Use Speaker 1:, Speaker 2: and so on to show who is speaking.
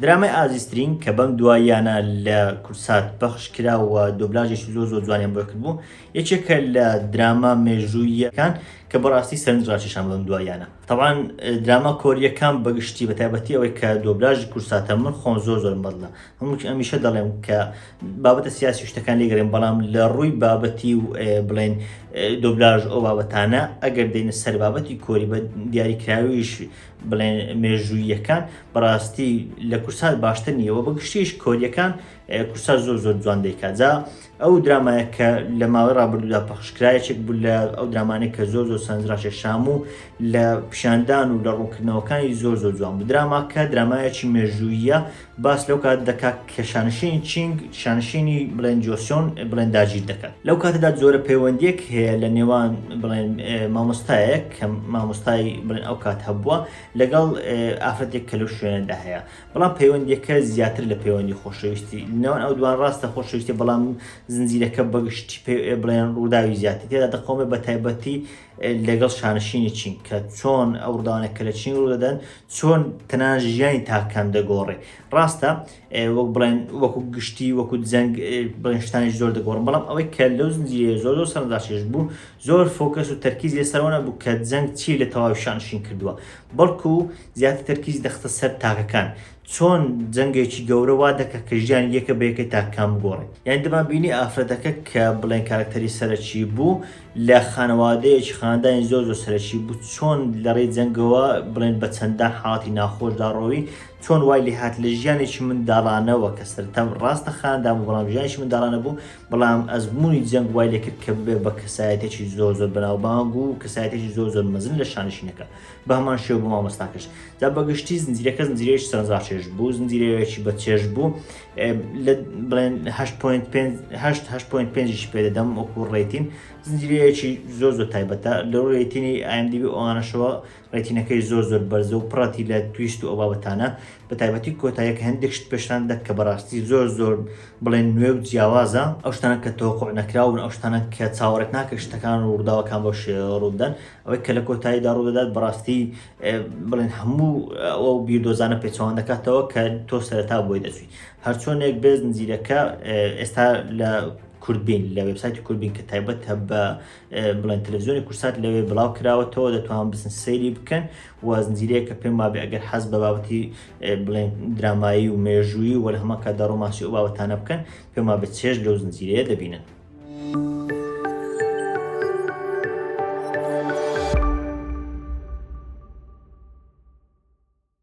Speaker 1: درامای ئازیزترین کە بەم دواییانە لە کورسات پەخش کرا و دۆبلاژێکی زۆر زۆر جوانیان بۆ کردبوو یەکێکە لە دراما مێژووییەکان کە بەڕاستی سەرنجڕاکێشان بەم دواییانە تەوان دراما کۆریەکان بەگشتی بە تایبەتی ئەوەی کە دۆبلاژی کورساتە من خۆم زۆر زۆر بەدڵە هەمووی ئەمیشە دەڵێم کە بابەتە سیاسی شتەکان لێگەرێن بەڵام لە ڕووی بابەتی و بڵێن دۆبلاژ ئەو بابەتانە ئەگەر دێنە سەر بابەتی کۆری بە دیاریکراویش بڵێن مێژوویەکان بەڕاستی لە کورسات باشتر نیەوە بە گشتیش کۆریەکان کورسا زۆر زۆر جوان دەیکات جا ئەو درامایە کە لە ماوەی ڕابردوودا پەخشکرا یەکێک بوو لە ئەو درامانێک کە زۆر زۆر سەنجڕاشێ شام و لە پیشاندان و لە ڕوونکردنەوەکانی زۆر زۆر جوان بوو دراما کە درامایەکی مێژوویە باس لەو کات دەکات کە شانشین چینگ شانشینی بڵێن جۆسیۆن بڵێن داگیر دەکات لەو کاتەدا جۆرە پەیوەندیەک هەیە لە نێوان بڵێن مامۆستایەک کە مامۆستای بڵێن ئەو کات هەبووە لەگەڵ ئافرەتێک کە لەو شوێنەدا هەیە بەڵام پەیوەندیەکە زیاتر لە پەیوەندی خۆشەویستی لەنێوان ئەو دوان ڕاستە خۆشەویستی بەڵام زنجیرەکە بەگشتی پێ بڵێن ڕووداوی زیاتر تێدا دەقەومێ بە تایبەتی لەگەڵ شانشینی چین کە چۆن ئەو ڕداوانە کە لە چین ڕوو دەدەن چۆن تەنان ژیانی تاکان دەگۆڕێ ڕاستە وەک بڵێن وەکو گشتی وەکو جەنگ بڵێنشتانی زۆر دەگۆڕن بەڵام ئەوەی کە لەو زنجیرە زۆر زۆر سەرنجاشێش بوو زۆر فۆکەس و تەرکیز لەسەرەوەە بوو کە جەنگ چی لە تەواوی شانشین کردووە بەڵکو زیاتر تەرکیز دەخستە سەر تاکەکان، چۆن جەنگێکی گەورە وا دەکات کە ژیانی یەکە بە یەکەی تاکەکان بگۆڕێت. یانی دەمانبینی ئافرەتەکە کە بڵێین کارەکتەری سەرەکی بوو، لە خانەوادەیەکی خاندانی زۆر زۆر سەرەکی بوو، چۆن لە ڕێی جەنگەوە بڵێین بە چەندان حاڵەتی ناخۆشدا ڕۆیی، چۆن وای لێهات لە ژیانێکی منداڵانەوە کە سەرەتا ڕاستە خاندان بوو بەڵام ژیانێکی منداڵانە بوو، بەڵام ئەزموونی جەنگ وای لێکرد کە ببێت بە کەسایەتێکی زۆر زۆر بەناوبانگ و کەسایەتێکی زۆر زۆر مەزن لە شانشینەکە بە هەمان شێو بۆ مامۆستاکەش دا بەگشتی زنجیرەکە زنجیرەیەش سەرزاچێش بوو زنجیرەیەکی بە چێش بوو بڵێن 5.5 پێدەدەم وەکو ڕێتین زنجیرەیەکی زۆر زۆر تایبەتە لەو ڕێتینی ئایمدیبی ئەوانەشەوە ڕێتینەکەی زۆر زۆر بەرزە و پڕەتی لە تویست و ئەو بابەتانە بە تایبەتی کۆتاییەکە هەندێک شت پێشتان دەدات کە بەڕاستی زۆر زۆر بڵێن نوێ و جیاوازە ئەو شتانە کە تەوەقوع نەکراوبن ئەو شتانە کە چاوەڕێت ناکرد شتەکان و ڕووداوەکان بەو شێوەیە ڕووبدەن ئەوەی کە لە کۆتاییدا ڕوودەدات بەڕاستی بڵێن هەموو ئەو بیردۆزانە پێچەوان دەکاتەوە کە تۆ سەرەتا بۆی دەچوی هەرچۆنێک بێ زنجیرەکە ئێستا لە کوردبین لە وبسایتی کوردبین کە تایبەت هە بە بڵێن تەلەڤزیۆنی کورسات لەوێ بڵاو کراوەتەوە دەتوان بزن سەیری بکەن وازنجیرەیە کە پێم وابێ ئەگەر حەز بە بابەتی بڵێن درامایی و مێژووی وەل هەمە کە دەڕۆماسی و باوەتانە بکەن پێما بە چێژ لەو زنجیرەیە دەبینن.